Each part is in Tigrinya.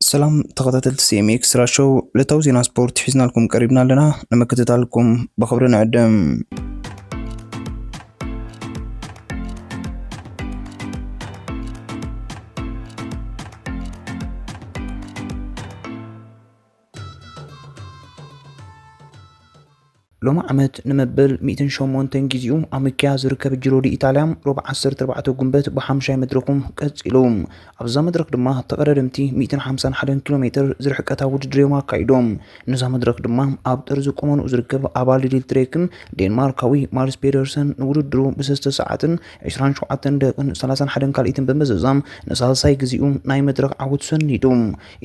ሰላም ተኸታተልቲ ሲኤም ኤክስትራ ሾው ዕለታዊ ዜና ስፖርት ሒዝናልኩም ቀሪብና ኣለና ንምክትታልኩም ብኽብሪ ንዕድም ሎሚ ዓመት ንመበል 108 ጊዜኡ ኣብ ምክያ ዝርከብ ጅሮዲ ኢጣልያ ሮብ 14 ጉንበት ብሓምሻይ መድረኹም ቀጺሉ ኣብዛ መድረኽ ድማ ተቐዳደምቲ 151 ኪሎ ሜትር ዝርሕቀታ ውድድር እዮም ኣካይዶም ነዛ መድረኽ ድማ ኣብ ጥርዚ ቁመንኡ ዝርከብ ኣባል ሊድል ትሬክን ዴንማርካዊ ማርስ ፔደርሰን ንውድድሩ ብሰስተ ሰዓትን 27 ደቅን 31 ካልኢትን ብምዝዛም ንሳልሳይ ጊዜኡ ናይ መድረኽ ዓወት ሰኒዱ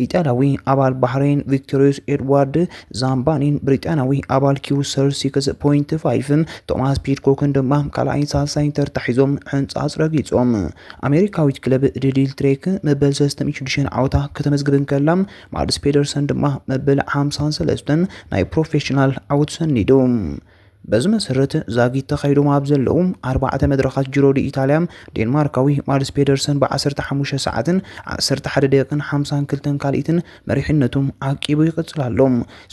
ኢጣልያዊ ኣባል ባሕሬን ቪክቶሪዮስ ኤድዋርድ ዛምባኒን ብሪጣንያዊ ኣባል ኪው ሰር ሲክስ ፖይንት ፋይቭን ቶማስ ፒድኮክን ድማ ካልኣይን ሳልሳይን ተርታ ሒዞም ሕንጻጽ ረጊጾም። ኣሜሪካዊት ክለብ ድልድል ትሬክ መበል ሰለስተን ሽዱሽተን ዓወታ ከተመዝግብ እንከላ ማድስ ፔደርሰን ድማ መበል ሓምሳን ሰለስተን ናይ ፕሮፌሽናል ዓወቱ ሰኒዱ። በዚ መሰረት ዛጊት ተኻይዶም ኣብ ዘለዉ ኣርባዕተ መድረኻት ጂሮ ዲኢታልያ ዴንማርካዊ ማድስ ፔደርሰን ብዓሰርተ ሓሙሽተ ሰዓትን ዓሰርተ ሓደ ደቂቕን ሓምሳን ክልተን ካልኢትን መሪሕነቱ ዓቂቡ ይቕጽል ኣሎ።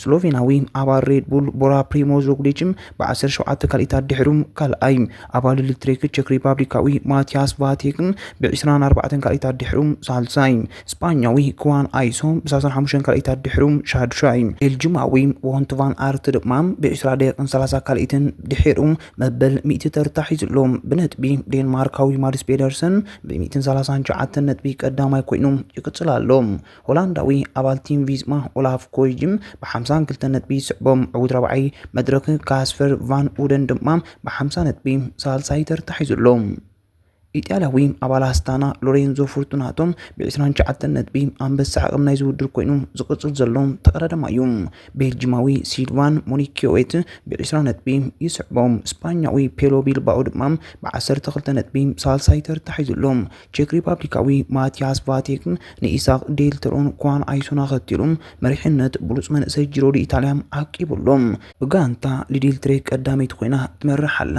ስሎቬናዊ ኣባል ሬድ ቡል ቦራ ፕሪሞዝ ሮግሊችም ብዓሰርተ ሸውዓተ ካልኢታት ድሕሩ ካልኣይ፣ ኣባል ኤሌክትሪክ ቸክ ሪፓብሊካዊ ማቲያስ ቫቴክን ብዕስራን ኣርባዕተን ካልኢታት ድሕሩ ሳልሳይ፣ ስጳኛዊ ክዋን ኣይሶ ብሳሳን ሓሙሽተን ካልኢታት ድሕሩ ሻዱሻይ፣ ቤልጁማዊ ዎንት ቫን ኣርት ድማ ብዒስራ ደቂቕን ሰላሳ ካልኢትን ድሒሩ መበል ሚእቲ ተርታ ሒዙ ኣሎ። ብነጥቢ ዴንማርካዊ ማድስ ፔደርሰን ብሚእትን ሰላሳን ትሽዓተን ነጥቢ ቀዳማይ ኮይኑ ይቅጽል ኣሎ። ሆላንዳዊ ኣባል ቲም ቪዝማ ኦላፍ ኮይጅም ብሓምሳን ክልተን ነጥቢ ይስዕቦ። ዕዉት ራብዓይ መድረኽ ካስፐር ቫን ኡደን ድማ ብሓምሳ ነጥቢ ሳልሳይ ተርታ ሒዙ ኣሎ። ኢጣልያዊ ኣባል ኣስታና ሎሬንዞ ፎርቱናቶ ብዕስራን ትሽዓተን ነጥቢ ኣንበሳ ዓቕም ናይዚ ውድድር ኮይኑ ዝቕጽል ዘሎ ተቐዳዳማይ እዩ። ቤልጂማዊ ሲልቫን ሞኒኪዮዌት ብዕስራ ነጥቢ ይስዕቦ። ስጳኛዊ ፔሎ ቢልባኦ ድማ ብዓሰርተ ክልተ ነጥቢ ሳልሳይ ተርታ ሒዙ ኣሎ። ቼክ ሪፓብሊካዊ ማቲያስ ቫቴክ ንኢሳቕ ዴልተሮን ኳን ኣይሶን ኣኸቲሉ መሪሕነት ብሉጽ መንእሰይ ጂሮ ዲኢታልያ ዓቂቡ ኣሎ። ብጋንታ ሊዲልትሬ ቀዳመይቲ ኮይና ትመርሕ ኣላ።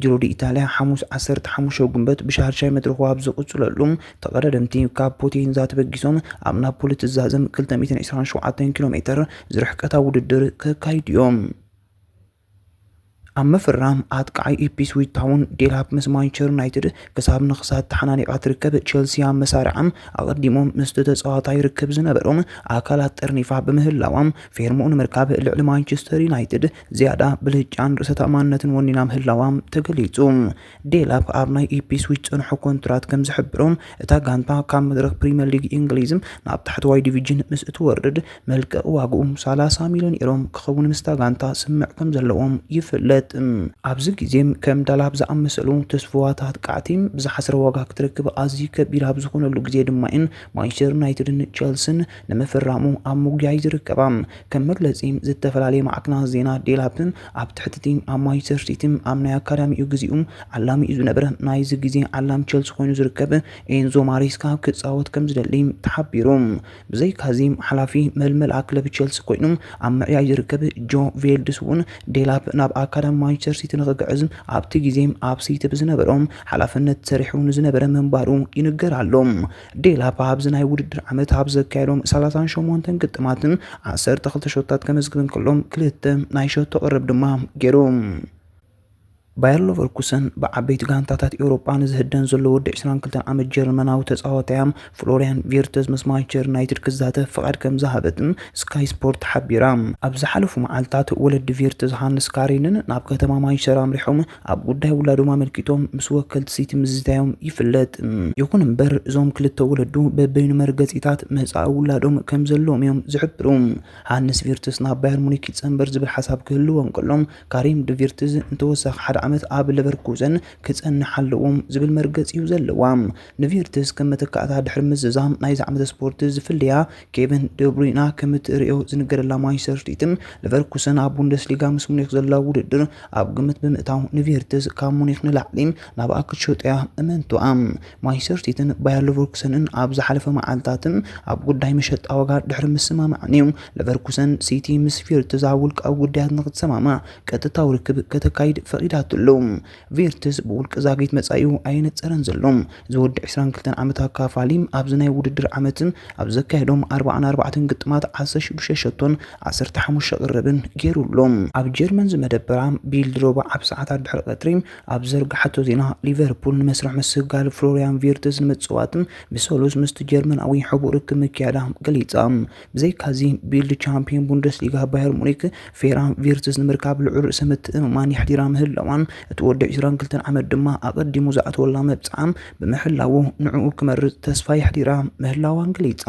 ጂሮ ዲኢታልያ ሓሙስ ዓሰርተ ሓሙሽተ ጉንበት ብሻርጃ መድረኹ ኣብ ዝቕፅለሉ ተቐዳደምቲ ካብ ፖቴንዛ ተበጊሶም ኣብ ናፖሊ ትዛዘም ክልተ ሚእትን ዕስራን ሸውዓተን ኪሎ ሜትር ዝርሕቀታ ውድድር ከካይዱ እዮም። ኣብ ምፍራም ኣጥቃዓይ ኢፕስዊች ታውን ዴላፕ ምስ ማንቸስተር ዩናይትድ ክሳብ ንክሳድ ተሓናኒቓ ትርከብ። ቼልሲ ኣብ መሳርዓም ኣቐዲሞም ምስቲ ተፃዋታይ ርክብ ዝነበሮም ኣካላት ጠርኒፋ ብምህላዋ ፌርምኡ ንምርካብ ልዕሊ ማንቸስተር ዩናይትድ ዝያዳ ብልጫን ርእሰ ተኣማንነትን ወኒና ምህላዋ ተገሊጹ። ዴላፕ ኣብ ናይ ኢፕስዊች ጸንሖ ኮንትራት ከም ዝሕብሮ፣ እታ ጋንታ ካብ መድረኽ ፕሪምየር ሊግ እንግሊዝ ናብ ታሕተዋይ ዲቪጅን ምስ እትወርድ መልቀቒ ዋጋኡ ሰላሳ ሚልዮን ኤሮ ክኸውን ምስታ ጋንታ ስምምዕ ከም ዘለዎም ይፍለጥ። ኣብዚ ግዜ ከም ዳላፕ ዝኣመሰሉ ተስፉዋት ኣጥቃዕቲ ብዝሓስረ ዋጋ ክትረክብ ኣዝዩ ከቢድ ኣብ ዝኾነሉ ግዜ ድማ'የን ማንቸስተር ዩናይትድን ቸልስን ንምፍራሙ ኣብ ምጉያይ ዝርከባ ከም መግለፂ ዝተፈላለየ ማዕክናት ዜና ዴላፕን ኣብ ትሕቲ ቲም ኣብ ማንቸስተር ሲቲን ኣብ ናይ ኣካዳሚኡ ግዚኡ ዓላሚኡ ዝነበረ ናይዚ ግዜ ዓላም ቸልሲ ኮይኑ ዝርከብ ኤንዞ ማሬስካ ክፃወት ከም ዝደሊ ተሓቢሩ ብዘይካዚ ሓላፊ መልመላ ክለብ ቸልሲ ኮይኑ ኣብ ምዕያይ ዝርከብ ጆ ቬልድስ እውን ዴላፕ ናብ ኣካዳሚ ማንቸስተር ሲቲ ንክግዕዝ ኣብቲ ግዜ ኣብ ሲቲ ብዝነበሮም ሓላፍነት ሰሪሑ ንዝነበረ ምንባሩ ይንገር ኣሎ። ዴላፓ ኣብዚ ናይ ውድድር ዓመት ኣብ ዘካየዶም ሰላሳን ሸሞንተን ግጥማትን ዓሰርተ ክልተ ሸቶታት ከመዝግብ እንከሎ ክልተ ናይ ሸቶ ቅርብ ድማ ገይሩ። ባየር ሎቨርኩሰን ብዓበይቲ ጋንታታት ኤውሮጳ ንዝህደን ዘሎ ወዲ 22 ዓመት ጀርመናዊ ተጻዋታያ ፍሎሪያን ቪርተዝ ምስ ማንቸስተር ዩናይትድ ክዛተፍ ፍቓድ ከም ዝሃበትን ስካይ ስፖርት ሓቢራ። ኣብ ዝሓለፉ መዓልታት ወለዲ ቪርተዝ ሃንስ ካሪንን ናብ ከተማ ማንቸስተር ኣምሪሖም ኣብ ጉዳይ ውላዶም ኣመልኪቶም ምስ ወከልቲ ሲቲ ምዝታዮም ይፍለጥ። ይኹን እምበር እዞም ክልተ ወለዱ በበይኑ መርገጺታት መጻኢ ውላዶም ከም ዘለዎም እዮም ዝሕብሩ። ሃንስ ቪርትዝ ናብ ባየር ሙኒክ ይጸንበር ዝብል ሓሳብ ክህልዎ እንከሎ፣ ካሪም ድ ቪርትዝ ንተወሳኺ ሓደ ዓመት ኣብ ለቨርኩዘን ክጸንሕ ኣለዎ ዝብል መርገጺ እዩ ዘለዋ። ንቪርትዝ ከም መተካእታ ድሕሪ ምዝዛም ናይዚ ዓመተ ስፖርት ዝፍለያ ኬቨን ደብሩይና ከም እትርእዮ ዝንገረላ ማንቸስተር ሲቲን ሊቨርኩሰን ኣብ ቡንደስሊጋ ምስ ሙኒክ ዘለዋ ውድድር ኣብ ግምት ብምእታው ንቪርትዝ ካብ ሙኒክ ንላዕሊ ናብኣ ክትሸጦያ እመንቱኣ ማንቸስተር ሲቲን ባየር ሊቨርኩሰንን ኣብ ዝሓለፈ መዓልታትን ኣብ ጉዳይ መሸጣ ዋጋ ድሕሪ ምስማማዕን እዩ ሊቨርኩሰን ሲቲ ምስ ቪርትዝ ኣብ ውልቃዊ ጉዳያት ንክትሰማማዕ ቀጥታዊ ርክብ ከተካይድ ፈቒዳትሉ ቬርትዝ ብውልቂ ዛጊት መጻኢኡ ኣየነጸረን ዘሎ። እዚ ወዲ ዕስራን ክልተን ዓመት ኣካፋሊ ኣብዚ ናይ ውድድር ዓመት ኣብ ዘካየዶም ኣርብዓን ኣርባዕተን ግጥማት ዓሰርተ ሽዱሽተ ሸቶን ዓሰርተ ሓሙሽተ ቅርርብን ገይሩ ኣሎ። ኣብ ጀርመን ዝመደበራ ቢልድ ሮባ ኣብ ሰዓታት ድሕሪ ቀትሪ ኣብ ዘርግሓቶ ዜና፣ ሊቨርፑል ንመስርሕ ምስግጋል ፍሎርያን ቪርትዝ ንምጽዋት ብሰሉስ ምስቲ ጀርመናዊ ሕቡእ ርክብ ምክያዳ ገሊጻ። ብዘይካዚ፣ ቢልድ ቻምፕዮን ቡንደስሊጋ ባየር ሙኒክ ፌራን ቪርትዝ ንምርካብ ልዑል ርእሰ ምትእምማን የሕዲራ ምህላዋን እቲ ወዲ 22 ዓመት ድማ ኣቐዲሙ ዝኣተወላ መብጽዓ ብምሕላዉ ንዕኡ ክመርጽ ተስፋ የሕዲራ ምህላዋን ገሊጻ።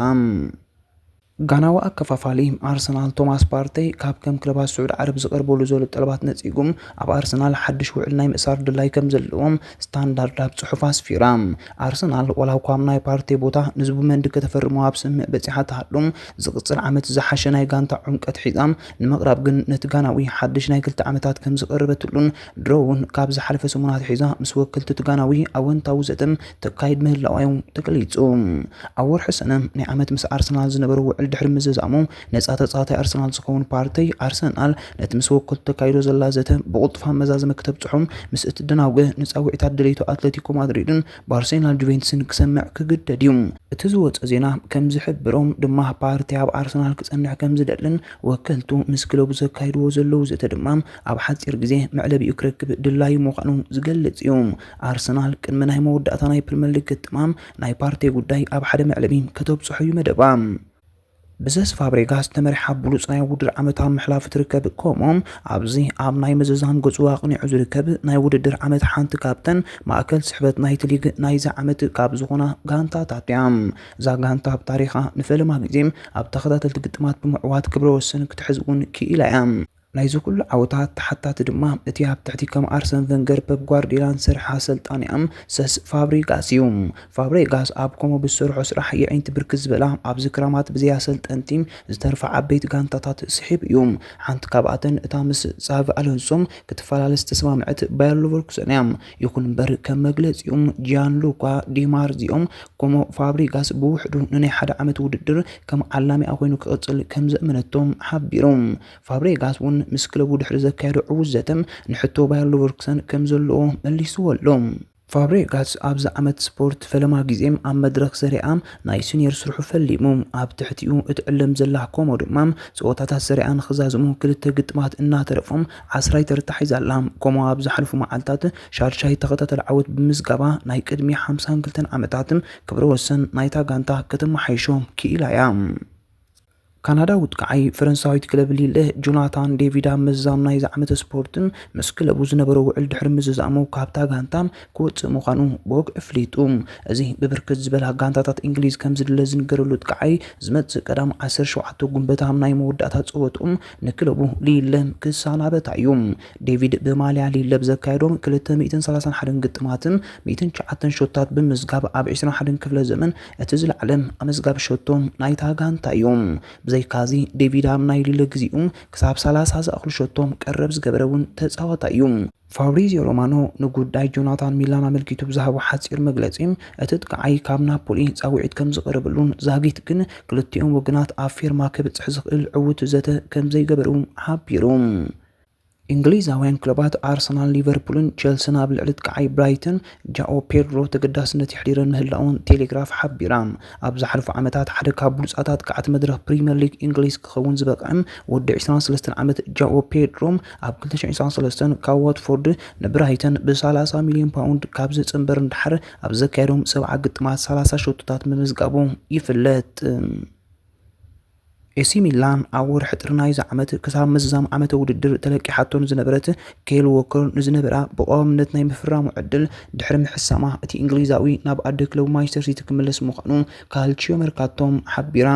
ጋናዊ ኣከፋፋሊ ኣርሰናል ቶማስ ፓርተይ ካብ ከም ክለባት ስዑድ ዓረብ ዝቐርበሉ ዘሎ ጠለባት ነጺጉ ኣብ ኣርሰናል ሓድሽ ውዕል ናይ ምእሳር ድላይ ከምዘለዎ ስታንዳርድ ኣብ ጽሑፋ ኣስፊራ። ኣርሰናል ዋላ'ኳ ኣብ ናይ ፓርቴ ቦታ ንዙብመንዲ ከተፈርሞ ኣብ ስምምዕ በጺሓ ትሃሉ፣ ዝቕጽል ዓመት ዝሓሸ ናይ ጋንታ ዑምቀት ሒዛ ንምቕራብ ግን ነቲ ጋናዊ ሓድሽ ናይ ክልተ ዓመታት ከምዝቐረበትሉን ድሮ'ውን ካብ ዝሓለፈ ሰሙን ኣትሒዛ ምስ ወከልቲ'ቲ ጋናዊ ኣወንታዊ ዘተ ተካይድ ምህላዋ'ዩ ተገሊጹ። ኣብ ወርሒ ሰነ ናይ ዓመት ምስ ኣርሰናል ዝነበሮ ውዕል ድሕሪ ምዝዛሙ፣ ነፃ ተፃዋታይ ኣርሰናል ዝኸውን ፓርቲ ኣርሰናል ነቲ ምስ ወከልቱ ተካይዶ ዘላ ዘተ ብቕልጡፍ ኣመዛዝመ ክተብፅሖ ምስ እትደናጉ ንፃውዒታት ደለይቱ ኣትለቲኮ ማድሪድን ባርሴናል ጁቬንትስን ክሰምዕ ክግደድ እዩ። እቲ ዝወፀ ዜና ከምዝሕብሮ ድማ ፓርቲ ኣብ ኣርሰናል ክፀንሕ ከምዝደልን ወከልቱ ምስ ክለቡ ዘካይድዎ ዘለዉ ዘተ ድማ ኣብ ሓፂር ግዜ መዕለቢኡ ክረክብ ድላዩ ምዃኑ ዝገልፅ እዩ። ኣርሰናል ቅድሚ ናይ መወዳእታ ናይ ፕሪመር ሊግ ግጥማ ናይ ፓርቴ ጉዳይ ኣብ ሓደ መዕለቢ ከተብፅሖ እዩ መደባ። ብዘስ ፋብሬጋስ ዝተመርሓ ብሉጽ ናይ ውድድር ዓመት ኣብ ምሕላፉ ትርከብ። ከምኡም ኣብዚ ኣብ ናይ ምዝዛም ገጹ ኣቕኒዑ ዝርከብ ናይ ውድድር ዓመት ሓንቲ ካብተን ማእከል ስሕበት ናይቲ ሊግ ናይዚ ዓመት ካብ ዝኾና ጋንታታት እያ። እዛ ጋንታ ኣብ ታሪኻ ንፈለማ ግዜ ኣብ ተኸታተልቲ ግጥማት ብምዕዋት ክብረ ወሰን ክትሕዝ እውን ክኢላ እያ። ናይዚ ኩሉ ዓወታት ተሓታቲ ድማ እቲ ኣብ ትሕቲ ከም ኣርሰን ቨንገር ፐፕ ጓርድዮላን ዝሰርሐ ኣሰልጣኒኣም ሰስ ፋብሪጋስ እዩ። ፋብሬጋስ ኣብ ኮሞ ብዝሰርሖ ስራሕ የዒንቲ ብርክት ዝበላ ኣብዚ ክራማት ብዘይ ኣሰልጠንቲ ዝተርፋ ዓበይቲ ጋንታታት ስሒቡ እዩ። ሓንቲ ካብኣተን እታ ምስ ጻቪ ኣሎንሶ ክትፈላለ ዝተሰማምዐት ባየር ሉቨርኩሰን እያ። ይኹን እምበር ከም መግለጺኡ ጂያንሉካ ዲ ማርዚዮ ኮሞ ፋብሪጋስ ብውሕዱ ንናይ ሓደ ዓመት ውድድር ከም ዓላሚኣ ኮይኑ ክቕጽል ከምዘእመነቶ ሓቢሩ። ፋብሬጋስ እውን ምስ ክለቡ ድሕሪ ዘካየዶ ዕዉት ዘተ ንሕቶ ባየር ሉቨርኩሰን ከም ዘለዎ መሊስዎ ኣሎ። ፋብሬጋስ ኣብዚ ዓመት ስፖርት ፈለማ ግዜ ኣብ መድረኽ ሰሪኣ ናይ ስኒየር ስርሑ ፈሊሙ። ኣብ ትሕቲኡ እትዕለም ዘላ ኮሞ ድማ ጸወታታት ሰሪኣ ንኽዛዝሙ ክልተ ግጥማት እናተረፎም ዓስራይ ተርታ ሒዛ ኣላ። ኮሞ ኣብ ዝሓለፉ መዓልታት ሻድሻይ ተኸታታሊ ዓወት ብምምዝጋባ ናይ ቅድሚ ሓምሳን ክልተን ዓመታት ክብረወሰን ናይታ ጋንታ ከተመሓይሾ ክኢላ እያ። ካናዳዊት ቀዓይ ፈረንሳዊት ክለብ ሊለ ጆናታን ዴቪድ ኣብ ምዝዛም ናይዚ ዓመተ ስፖርትን ምስ ክለቡ ዝነበሮ ውዕል ድሕሪ ምዝዛሙ ካብታ ጋንታ ክወጽእ ምዃኑ ቦግ እፍሊጡ። እዚ ብብርክት ዝበላ ጋንታታት እንግሊዝ ከምዝድለ ዝንገረሉት ቀዓይ ዝመጽእ ቀዳም ዓሰርተ ሸውዓተ ጉንበት ኣብ ናይ መወዳእታ ጸወትኦም ንክለቡ ሊለ ክሳናበት እዩ። ዴቪድ ብማልያ ሊለ ብዘካየዶም ክልተ ሚእትን ሰላሳን ሓደን ግጥማትን ሚእትን ትሽዓተን ሸቶታት ብምዝጋብ ኣብ ዕስራን ሓደን ክፍለ ዘመን እቲ ዝለዓለን ኣመዝጋቢ ሸቶ ናይታ ጋንታ እዩ። ብዘይካዚ ዴቪድ ኣብ ናይ ልለ ግዜኡ ክሳብ ሰላሳ ዝኣኽሉ ሸቶ ቀረብ ዝገበረ እውን ተጻዋታይ እዩ። ፋብሪዝዮ ሮማኖ ንጉዳይ ጆናታን ሚላን ኣመልኪቱ ብዝሃቦ ሓጺር መግለጺ፣ እቲ ጥቃዓይ ካብ ናፖሊ ጻውዒት ከምዝቐረበሉን ዛጊት ግን ክልቲኦም ወገናት ኣብ ፌርማ ከብጽሕ ዝኽእል ዕዉት ዘተ ከምዘይገበሩ ሓቢሩ። እንግሊዛውያን ክለባት ኣርሰናል፣ ሊቨርፑልን ቸልሲን ኣብ ልዕሊ ጥቃዓይ ብራይተን ጃኦ ፔድሮ ተገዳስነት የሕዲረን ምህላወን ቴሌግራፍ ሓቢራ። ኣብ ዝሓለፉ ዓመታት ሓደ ካብ ብሉጻት ኣጥቃዕቲ መድረኽ ፕሪመር ሊግ እንግሊዝ ክኸውን ዝበቕዐ ወዲ ዕስራን ሰለስተን ዓመት ጃኦ ፔድሮ ኣብ ክልተ ሽሕን ዕስራን ሰለስተን ካብ ዋትፎርድ ንብራይተን ብሰላሳ ሚልዮን ፓውንድ ካብ ዝጽንበር ንደሓር ኣብ ዘካየዶም ሰብዓ ግጥማት ሰላሳ ሸቶታት ምምዝጋቡ ይፍለጥ። ኤሲ ሚላን ኣብ ወርሒ ጥሪ ናይዚ ዓመት ክሳብ ምዝዛም ዓመተ ውድድር ተለቂሓቶ ንዝነበረት ኬል ዎከር ንዝነበራ ብቐዋምነት ናይ ምፍራሙ ዕድል ድሕሪ ምሕሳማ እቲ እንግሊዛዊ ናብ ኣደ ክለቡ ማንቸስተር ሲቲ ክምለስ ምዃኑ ካልቺዮ መርካቶ ሓቢራ።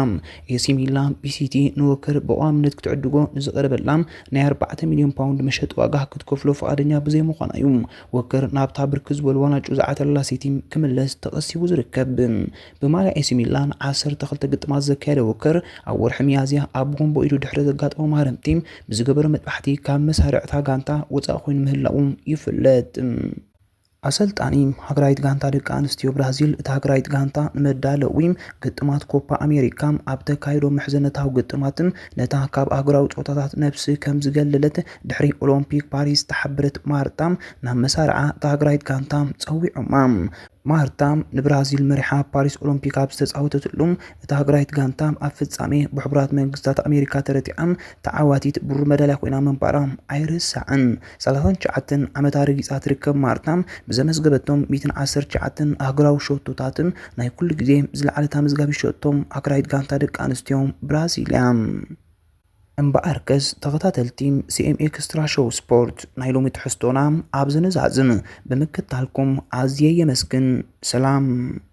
ኤሲ ሚላን ቢሲቲ ንዎከር ብቐዋምነት ክትዕድጎ ንዝቐረበላ ናይ ኣርባዕተ ሚልዮን ፓውንድ መሸጢ ዋጋ ክትከፍሎ ፍቓደኛ ብዘይምዃና እዩ ዎከር ናብታ ብርክት ዝበሉ ዋናጩ ዝዓተረላ ሲቲ ክምለስ ተቐሲቡ ዝርከብ። ብማልያ ኤሲ ሚላን ዓሰርተ ክልተ ግጥማት ዘካየደ ዎከር፣ ኣብ ወርሒ ሚያዝያ ኣብ ጎንቦ ኢዱ ድሕሪ ዘጋጠሞ ማህረምቲ ብዝገበሮ መጥባሕቲ ካብ መሳርዕ'ታ ጋንታ ወጻኢ ኮይኑ ምህላዉ ይፍለጥ። ኣሰልጣኒ ሃገራዊት ጋንታ ደቂ ኣንስትዮ ብራዚል፣ እታ ሃገራዊት ጋንታ ንመዳለዊ ግጥማት ኮፓ ኣሜሪካ ኣብ ተካይዶ ምሕዝነታዊ ግጥማት ነታ ካብ ኣህጉራዊ ጸወታታት ነብሲ ከም ዝገለለት ድሕሪ ኦሎምፒክ ፓሪስ ዝተሓበረት ማርታ ናብ መሳርዓ እታ ሃገራዊት ጋንታ ጸዊዖማ። ማርታ ንብራዚል መሪሓ ፓሪስ ኦሎምፒክ ኣብ ዝተፃወተትሉ እታ ሃገራዊት ጋንታ ኣብ ፍጻሜ ብሕቡራት መንግስታት ኣሜሪካ ተረቲዓ ተዓዋቲት ብሩር መዳልያ ኮይና ምንባራ ኣይርሳዕን። ሰላሳን ትሽዓተን ዓመታ ረጊፃ ትርከብ ማርታ ብዘመዝገበቶም ሚእትን ዓሰርተ ትሽዓተን ኣህጉራዊ ሸቶታት ናይ ኩሉ ግዜ ዝለዓለት ኣመዝጋቢት ሸቶ ሃገራዊት ጋንታ ደቂ ኣንስትዮ ብራዚል እያ። እምበኣርከስ ተኸታተልቲ ሲኤም ኤክስትራ ሾው ስፖርት ናይ ሎሚ ትሕዝቶና ኣብዚ ንዛዝም። ብምክታልኩም ኣዝየ የመስግን። ሰላም።